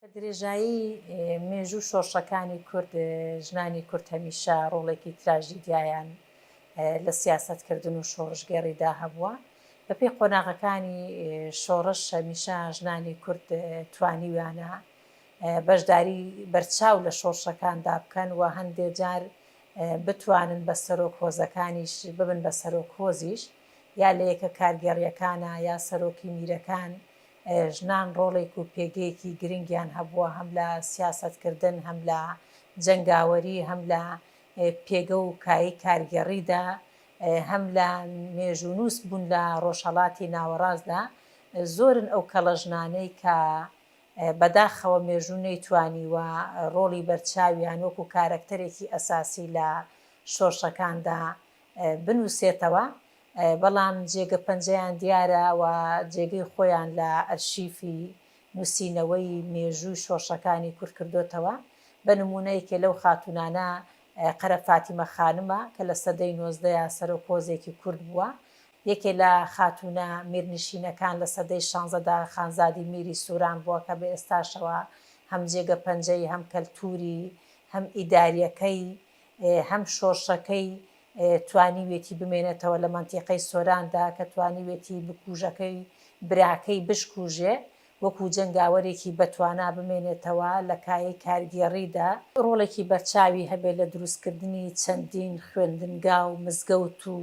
بە درێژایی مێژوو شۆڕشەکانی کورد ژنانی کورد هەمیشە ڕۆڵێکی تراژیدیایان لە سیاسەت کردن و شۆڕشگێڕیدا هەبووە بە پێی قۆناغەکانی شۆڕش هەمیشە ژنانی کورد توانیویانە بەشداری بەرچاو لە شۆڕشەکاندا بکەن و هەندێ جار بتوانن بە سەرۆک هۆزەکانیش ببن بە سەرۆک هۆزیش یا لە یەکە کارگێڕیەکانە یا سەرۆکی میرەکان ژنان ڕۆڵێک و پێگەیەکی گرنگیان هەبووە هەم لە سیاسەتکردن، هەم لە جەنگاوەری، هەم لە پێگە و کایەی کارگێڕیدا، هەم لە مێژوونووس بوون لە ڕۆژهەڵاتی ناوەڕاستدا، زۆرن ئەو کەڵە ژنانەی کە بەداخەوە مێژوو نەیتوانیوە ڕۆڵی بەرچاویان وەکو کارەکتەرێکی ئەساسی لە شۆرشەکاندا بنووسێتەوە، بەڵام جێگە پەنجەیان دیارە و جێگەی خۆیان لە ئەرشیفی نووسینەوەی مێژووی شۆڕشەکانی کورد کردۆتەوە، بە نموونە یەکێ لەو خاتوونانە قەرە فاتیمە خانمە کە لە سەدەی نۆزدەیا سەرۆک هۆزێکی کورد بووە، یەکێ لە خاتوونە میرنشینەکان لە سەدەی شانزەدا خانزادی میری سوران بووە کە بە ئێستاشەوە هەم جێگە پەنجەی هەم کەلتووری هەم ئیداریەکەی هەم شۆرشەکەی توانیوێتی بمێنێتەوە لە مەنتیقەی سۆراندا کە توانیوێتی بکوژەکەی براکەی بشکوژێ وەکو جەنگاوەرێکی بەتوانا بمێنێتەوە لە کایەی کارگێڕیدا، ڕۆڵێکی بەرچاوی هەبێت لە دروستکردنی چەندین خوێندنگا و مزگەوت و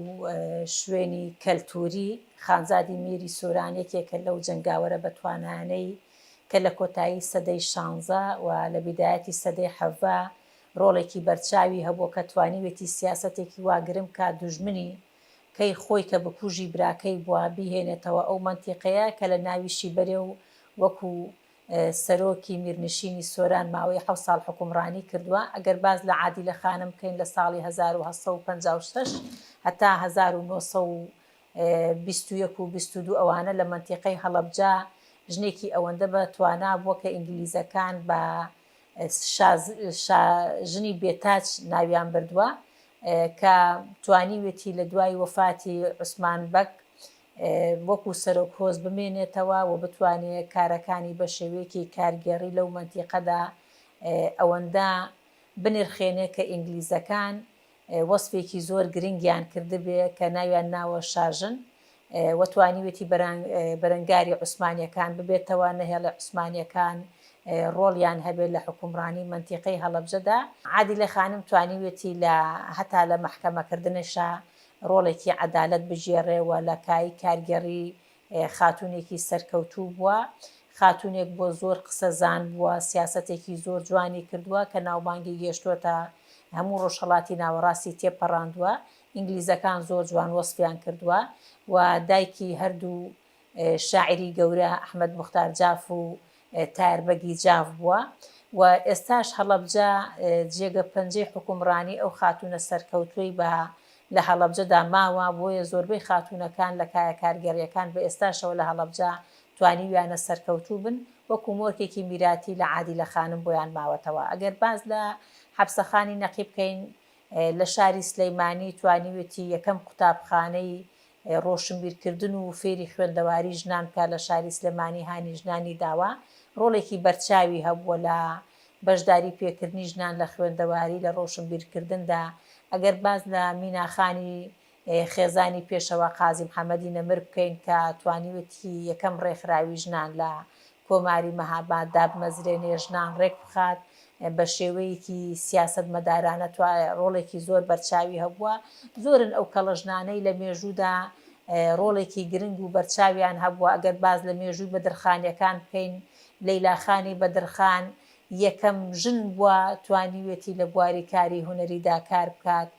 شوێنی کەلتووری، خانزادی میری سۆران یەکێکە لەو جەنگاوەرە بەتوانایانەی کە لە کۆتایی سەدەی شانزە و لە بیدایەتی سەدەی حەڤە ڕۆڵێکی بەرچاوی هەبووە کە توانیوێتی سیاسەتێکی وا گرم بکات دوژمنی کەی خۆی کە بکوژی براکەی بووە بیهێنێتەوە ئەو مەنتیقەیە کە لە ناویشی بەرێ و وەکو سەرۆکی میرنشینی سۆران ماوەی حەوت ساڵ حوکمڕانی کردووە ئەگەر باس لە عادیلە خانم بکەین لە ساڵی هەزار و هەشت سەد و پەنجا و شەش هەتا هەزار و نۆ سەد و بیست و یەک و بیست و دوو ئەوانە لە مەنتیقەی هەڵەبجە ژنێکی ئەوەندە بە توانا بووە کە ئینگلیزەکان بە شا ژنی بێ تاج ناویان بردووە کە توانیوێتی لە دوای وەفاتی عوسمان بەگ وەکو سەرۆک هۆز بمێنێتەوە و بتوانێ کارەکانی بە شێوەیەکی کارگێڕی لەو مەنتیقەدا ئەوەندە بنرخێنێ کە ئینگلیزەکان وەسفێکی زۆر گرنگیان کردبێ کە ناویان ناوە شاژن و توانیوێتی بەرەنگاری عوسمانیەکان ببێتەوە، نەهێڵێ عوسمانیەکان ڕۆڵیان هەبێ لە حوکمڕانی مەنتیقەی هەڵەبجەدا. عادیلە خانم توانیوێتی لە هەتا لە مەحکەمەکردنشا ڕۆڵێکی عەدالەت بگێڕێ و لە کای کارگێڕی خاتوونێکی سەرکەوتوو بووە، خاتوونێک بووە زۆر قسەزان بووە، سیاسەتێکی زۆر جوانی کردووە کە ناوبانگی گێشتۆتە هەموو ڕۆژهەڵاتی ناوەڕاستی تێپەڕاندووە، ئینگلیزەکان زۆر جوان وەسفیان کردووە و دایکی هەردوو شاعیری گەورە ئەحمەد موختار جاف و تار بەگی جاف بووە و ئێستاش هەڵەبجە جێگە پەنجەی حوکمڕانی ئەو خاتوونە سەرکەوتووەی بە لە هەڵەبجەدا ماوە، بۆیە زۆربەی خاتوونەکان لە کایە کارگێڕییەکان بە ئێستاشەوە لە هەڵەبجە توانیویانە سەرکەوتوو بن، وەکو مۆرکێکی میراتی لە عادیلە خانم بۆیان ماوەتەوە. ئەگەر باس لە حەپسەخانی نەقی بکەین لە شاری سلەیمانی توانیوێتی یەکەم قوتابخانەی ڕۆشنبیرکردن و فێری خوێندەواری ژنان بکات لە شاری سلێمانی هانی ژنانی داوە، ڕۆڵێکی بەرچاوی هەبووە لە بەشداری پێکردنی ژنان لە خوێندەواری لە ڕۆشنبیرکردندا، ئەگەر باس لە مینا خانی خێزانی پێشەوا قازی محەمەدی نەمر بکەین کە توانیوێتی یەکەم ڕێکخراوی ژنان لە کۆماری مهاباد دابمەزرێنێ، ژنان ڕێکبخات، بە شێوەیەکی سیاسەتمەدارانە توا ڕۆڵێکی زۆر بەرچاوی هەبووە. زۆرن ئەو کەڵە ژنانەی لە مێژوودا ڕۆڵێکی گرنگ و بەرچاویان هەبووە، ئەگەر باس لە مێژووی بەدرخانییەکان بکەین، لەیلا خانی بەدرخان یەکەم ژن بووە توانیوێتی لە بواری کاری هونەریدا کار بکات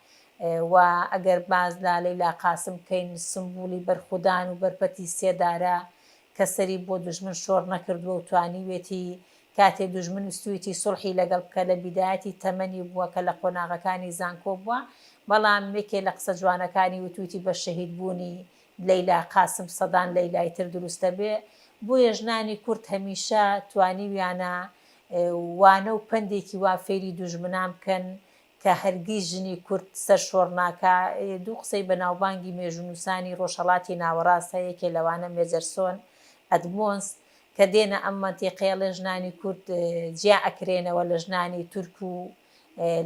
و ئەگەر باس لە لەیلا قاسم بکەین سمبوڵی بەرخودان و بەرپەتی سێدارە کە سەری بۆ دوژمن شۆڕ نەکردووە و توانیوێتی کاتێ دوژمن ویستوویەتی سوڵحی لەگەڵ بکە لە بیدایەتی تەمەنی بووە کە لە قۆناغەکانی زانکۆ بووە بەڵام یەکێ لە قسە جوانەکانی وتوویەتی بە شەهید بوونی لەیلا قاسم سەدان لەیلای تر دروست دەبێ بۆیە ژنانی کورد هەمیشە توانیویانە وانە و پەندێکی وا فێری دوژمنان بکەن کە هەرگیز ژنی کورد سەرشۆڕ ناکا، دوو قسەی بەناوبانگی مێژوونووسانی ڕۆژهەڵاتی ناوەڕاست هەیە یەکێ لەوانە مێجەرسۆن ئەدمۆنس کە دێنە ئەم مەنتیقەیە ڵێ ژنانی کورد جیا ئەکرێنەوە لە ژنانی تورک و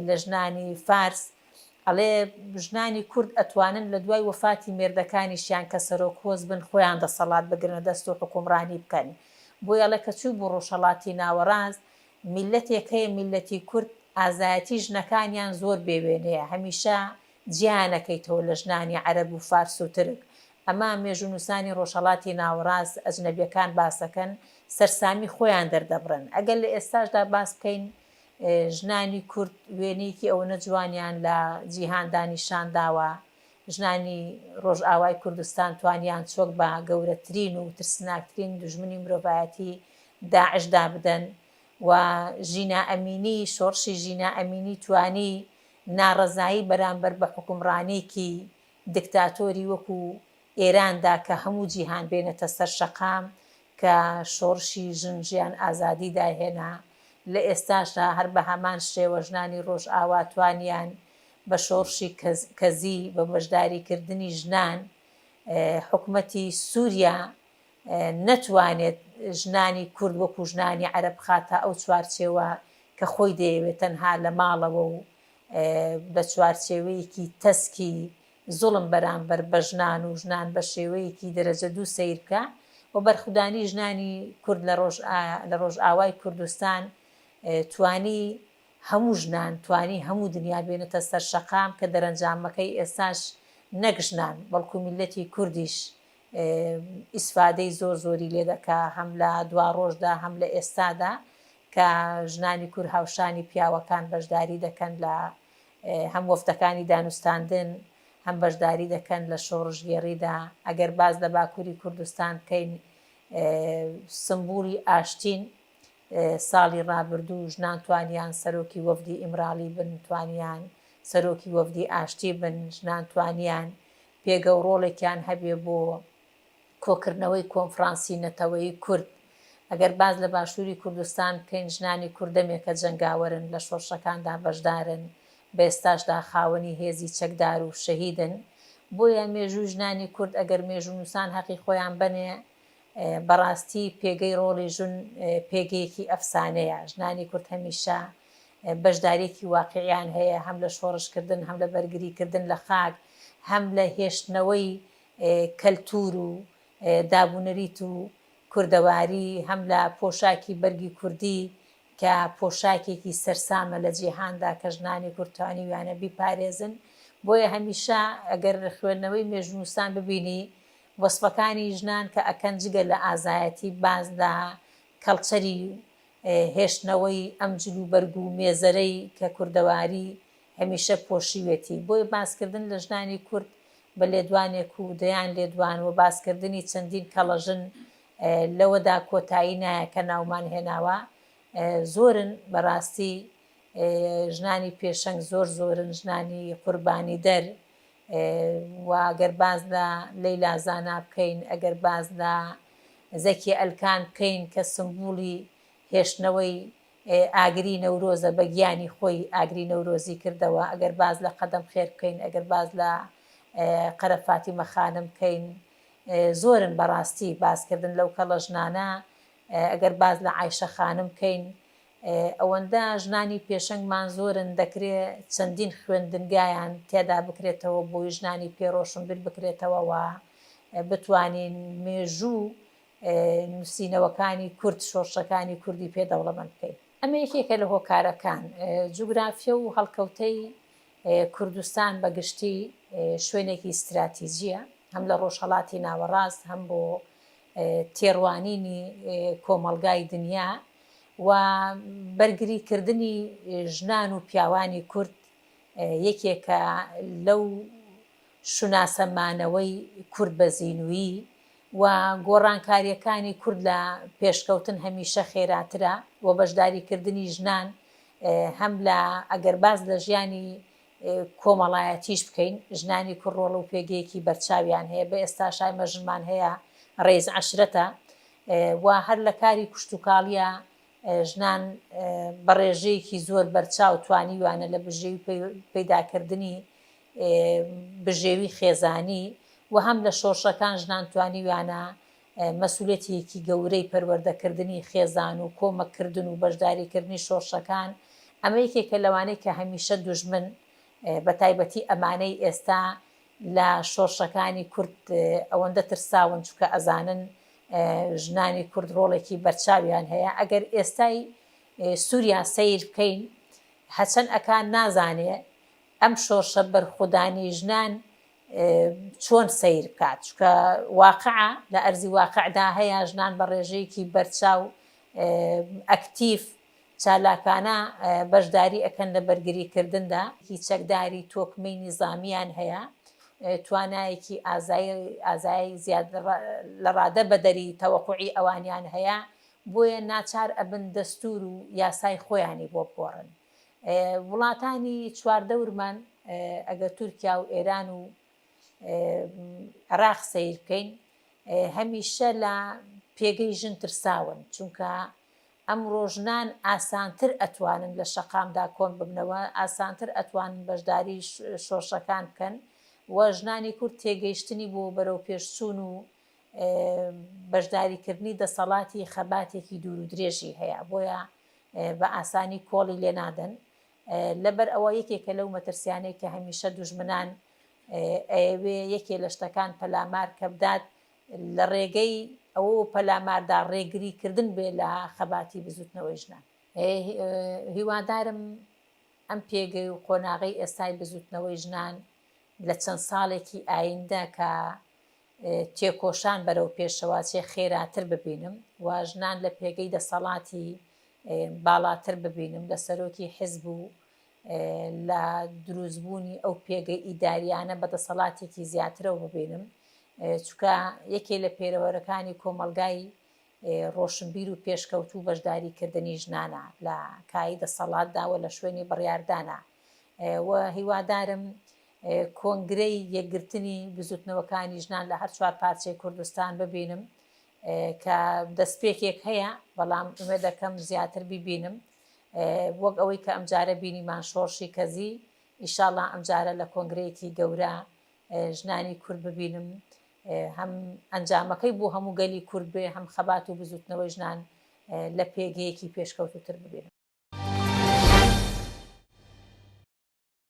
لە ژنانی فارس ئەڵێ ژنانی کورد ئەتوانن لە دوای وەفاتی مێردەکانیشیان کە سەرۆک هۆز بن خۆیان دەسەڵات بگرنە دەست و حوکومڕانی بکەن بۆیە ئەڵێ کە چوو بوو ڕۆژهەڵاتی ناوەڕاست میللەتێک هەیە میللەتی کورد ئازایەتی ژنەکانیان زۆر بێ وێنەیە هەمیشە جیایان ئەکەیتەوە لە ژنانی عەرەب و فارس و ترک ئەمە مێژوونوسانی ڕۆژهەڵاتی ناوەڕاست ئەجنەبیەکان باسەکەن سەرسامی خۆیان دەردەبڕن ئەگەر لە ئێستاشدا باس بکەین ژنانی کورد وێنەیەکی ئەوەنە جوانیان لە جیهاندا نیشان داوە ژنانی ڕۆژئاوای کوردستان توانیان چۆک بە گەورەترین و ترسناکترین دوژمنی مرۆڤایەتی داعش دابدەن و ژینا ئەمینی، شۆڕشی ژینا ئەمینی توانی ناڕەزایی بەرامبەر بە حوکمڕانێکی دکتاتۆری وەکو ئێراندا کە هەموو جیهان بێنێتە سەر شەقام کە شۆڕشی ژن ژیان ئازادی دایهێنا لە ئێستاشدا هەر بە هەمان شێوە ژنانی ڕۆژئاوا توانیان بە شۆڕشی کەزی بە بەشداری کردنی ژنان حکومەتی سوریا نەتوانێت ژنانی کورد وەکو ژنانی عەرەب بخاتە ئەو چوارچێوە کە خۆی دەیەوێت تەنها لە ماڵەوە و بە چوارچێوەیەکی تەسکی زوڵم بەرامبەر بە ژنان و ژنان بە شێوەیەکی دەرەجە دوو سەیر بکا و بەرخودانی ژنانی کورد لە ڕۆژئاوای کوردستان توانی هەموو ژنان توانی هەموو دنیا بێنێتە سەر شەقام کە دەرەنجامەکەی ئێستاش نەک ژنان بەڵکو میللەتی کوردیش ئیسفادەی زۆر زۆری لێ دەکا هەم لە دواڕۆژدا هەم لە ئێستادا کە ژنانی کور هاوشانی پیاوەکان بەشداری دەکەن لە هەم وەفدەکانی دانوستاندن هەم بەشداری دەکەن لە شۆڕشگێڕیدا ئەگەر باز لە باکووری کوردستان بکەین سمبولی ئاشتین ساڵی ڕابردوو ژنان توانیان سەرۆکی وەفدی ئیمراڵی بن، توانیان سەرۆکی وەفدی ئاشتی بن، ژنان توانیان پێگە و ڕۆڵێکیان هەبێ بۆ کۆکردنەوەی کۆنفڕانسی نەتەوەیی کورد. ئەگەر باس لە باشووری کوردستان بکەین، ژنانی کورد دەمێکە جەنگاوەرن، لە شۆڕشەکاندا بەشدارن، بە ئێستاشدا خاوەنی هێزی چەکدار و شەهیدن. بۆیە مێژووی ژنانی کورد، ئەگەر مێژوونووسان هەقی خۆیان بەنێ، بەڕاستی پێگەی ڕۆڵی ژن پێگەیەکی ئەفسانەیە، ژنانی کورد هەمیشە بەشداریەکی واقیعیان هەیە هەم لە شۆڕشکردن هەم لە بەرگریکردن لە خاک هەم لە هێشتنەوەی کەلتور و دابونەریت و کوردەواری هەم لە پۆشاکی بەرگی کوردی کە پۆشاکێکی سەرسامە لە جیهاندا کە ژنانی کورد توانیویانە بیپارێزن بۆیە هەمیشە ئەگەر خوێندنەوەی مێژونوسان ببینی وەسفەکانی ژنان کە ئەکەن جگە لە ئازایەتی باز لە کەڵچەری و هێشتنەوەی ئەم جل و بەرگ و مێزەرەی کە کوردەواری هەمیشە پۆشیوێتی بۆیە باسکردن لە ژنانی کورد بە لێدوانێک و دەیان لێدوان و باسکردنی چەندین کەڵەژن لەوەدا کۆتایی نایە کە ناومان هێناوە زۆرن بەراستی ژنانی پێشەنگ زۆر زۆرن ژنانی قوربانیدەر وە گەر باس لە لەیلا زانا بکەین ئەگەر باس لە زەکیە ئەلکان بکەین کە سمبولی هێشتنەوەی ئاگری نەورۆزە بە گیانی خۆی ئاگری نەورۆزی کردەوە ئەگەر باس لە قەدەم خێر بکەین ئەگەر باس لە قەرە فاتیمە خانم بکەین زۆرن بەڕاستی باسکردن لەو کەڵە ژنانە ئەگەر باس لە عایشە خانم بکەین ئەوەندە ژنانی پێشەنگمان زۆرن دەکرێ چەندین خوێندنگایان تێدا بکرێتەوە بۆی ژنانی پێ ڕۆشنبیر بکرێتەوە و بتوانین مێژوو نوسینەوەکانی کورد شۆرشەکانی کوردی پێ دەوڵەمەند بکەین. ئەمە یەکێکە لە هۆکارەکان. جوگرافیە و هەڵکەوتەی کوردستان بە گشتی شوێنێکی ستراتیجیە هەم لە ڕۆژهەڵاتی ناوەڕاست هەم بۆ تێڕوانینی کۆمەڵگای دنیا و بەرگری کردنی ژنان و پیاوانی کورد یەکێکە لەو شوناسە مانەوەی کورد بە زینوویی و گۆڕانکاریەکانی کورد لە پێشکەوتن هەمیشە خێراترە و بەشداری کردنی ژنان هەم لە ئەگەر باز لە ژیانی کۆمەڵایەتیش بکەین ژنانی کوڕۆڵ و پێگەیەکی بەرچاویان هەیە بە ئێستا شایمە ژنمان هەیە ڕێز عشرەتە و هەر لە کاری کشتوکاڵییە ژنان بە ڕێژەیەکی زۆر بەرچاو توانیویانە لە بژێوی پەیداکردنی بژێوی خێزانی و هەم لە شۆڕشەکان ژنان توانیویانە مەسوولەتیەکی گەورەی پەروەردەکردنی خێزان و کۆمەککردن و بەشداریکردنی شۆڕشەکان ئەمە یەکێکە لەوانەی کە هەمیشە دوژمن بە تایبەتی ئەمانەی ئێستا لە شۆرشەکانی کورد ئەوەندە ترساون چونکە ئەزانن ژنانی کورد رۆڵێکی بەرچاویان هەیە ئەگەر ئێستای سوریا سەیر بکەین هەچەن ئەکا نازانێ ئەم شۆرشە بەرخودانی ژنان چۆن سیر بکات چکە واقع لە ئەرزی واقعدا هەیە ژنان بە ڕێژەیەکی بەرچاو ئەکتیف چالاکانە بەشداری ئەکەن لە بەرگری کردندا. هی چەکداری تۆکمەی نیزامیان هەیە توانایەکی ئازایی ئازایی زیاد لە ڕادە بەدەری تەوەقوعی ئەوانیان هەیە بۆیە ناچار ئەبن دەستور و یاسای خۆیانی بۆ بگۆڕن وڵاتانی چواردەورمان ئەگەر تورکیا و ئێران و عراق سەیر بکەین هەمیشە لە پێگەی ژن ترساون چونکە ئەمڕۆ ژنان ئاسانتر ئەتوانن لە شەقامدا کۆن ببنەوە، ئاسانتر ئەتوانن بەشداری شۆرشەکان بکەن و ژنانی کورد تێگەیشتنی بۆ بەرەوپێشچوون و بەشداریکردنی دەسەڵاتی خەباتێکی دوور و درێژی هەیە بۆیە بە ئاسانی کۆڵی لێ نادەن لەبەر ئەوە یەکێکە لەو مەترسیانەی کە هەمیشە دوژمنان ئەیەوێ یەکێ لە شتەکان پەلامار کە بدات لە ڕێگەی ئەوەوە پەلاماردا ڕێگریکردن بێت لە خەباتی بزووتنەوەی ژنان. هیوادارم ئەم پێگەی و قۆناغەی ئێستای بزووتنەوەی ژنان لە چەند ساڵێکی ئایندە کە تێکۆشان بەرەو پێشەوە چێ خێراتر ببینم و ژنان لە پێگەی دەسەڵاتی باڵاتر ببینم لە سەرۆکی حزب و لە دروستبوونی ئەو پێگە ئیدارییانە بە دەسەڵاتێکی زیاترەوە ببینم، چونکە یەکێ لە پێرەوەرەکانی کۆمەڵگای ڕۆشنبیر و پێشکەوتوو بەشداریکردنی ژنانە لە کایی دەسەڵاتدا و لە شوێنی بڕیاردانا و هیوادارم کۆنگرەی یەکگرتنی بزوتنەوەکانی ژنان لە هەر چوار پارچەی کوردستان ببینم کە دەستپێکێک هەیە بەڵام ئومێدەکەم زیاتر ببینم وەک ئەوەی کە ئەمجارە بینیمان شۆڕشی کەزی، ئیشاڵا ئەمجارە لە کۆنگرەیەکی گەورە ژنانی کورد ببینم هەم ئەنجامەکەی بۆ هەموو گەلی کورد بێ هەم خەبات و بزوتنەوەی ژنان لە پێگەیەکی پێشکەوتوتر ببینم.